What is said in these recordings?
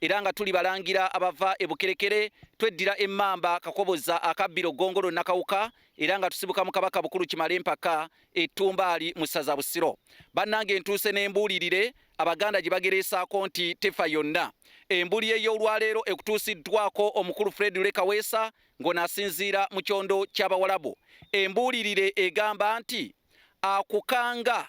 era nga tuli balangira abava e Bukerekere tweddira emmamba Kakoboza akabbiro Ggongolo Nakawuka era nga tusibuka mu Kabaka Bukulu Kimale Mpaka ettumbaali mu ssaza Busiro. Bannange ntuuse n'embuulirire Abaganda gye bagereesaako nti tefa yonna. Embuli ey'olwaleero ekutuusiddwako omukulu Fred Lekaweesa ng'onaasinziira mu kyondo ky'Abawalabu. Embuulirire egamba nti akukanga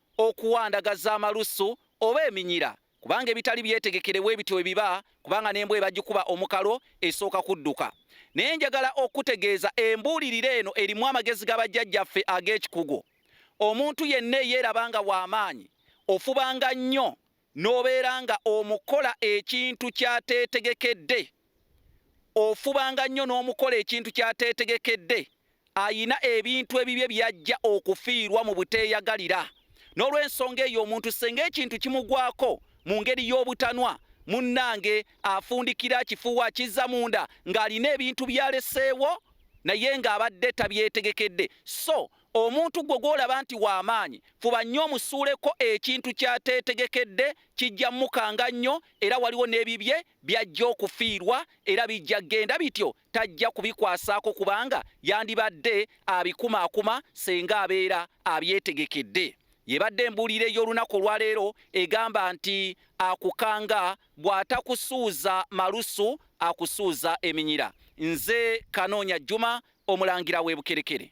okuwa ndaga z'amalusu oba eminyira kubanga ebitali byetegekere bwe bityo ebiba kubanga n'embwa ebagikuba omukalo esooka kudduka naye njagala okutegeeza embuulirira eno erimu amagezi ga bajjajjaffe ag'ekikugu omuntu yenna eyeeraba nga w'amaanyi ofubanga nnyo N'obeera nga omukola ekintu ky'ateetegekedde, ofubanga nnyo n'omukola ekintu ky'ateetegekedde, ayina ebintu ebibye by'ajja okufiirwa mu buteeyagalira. N'olw'ensonga eyo omuntu ssenga ekintu kimugwako mu ngeri y'obutanwa, munnange afundikira akifuuwa akizza munda ng'alina ebintu by'aleseewo naye ng'abadde tabyetegekedde so Omuntu gwo gw'olaba nti wa maanyi, fuba nnyo omusuuleko ekintu ky'ateetegekedde. Kijja mmukanga nnyo era waliwo n'ebibye by'ajja okufiirwa era bijja kugenda bityo tajja kubikwasaako kubanga yandibadde abikumaakuma ssenga abeera abyetegekedde. Y'ebadde embuulira ey'olunaku olwaleero egamba nti akukanga bw'atakusuuza malusu akusuuza eminyira. Nze Kanoonya Juma, Omulangira w'e Bukerekere.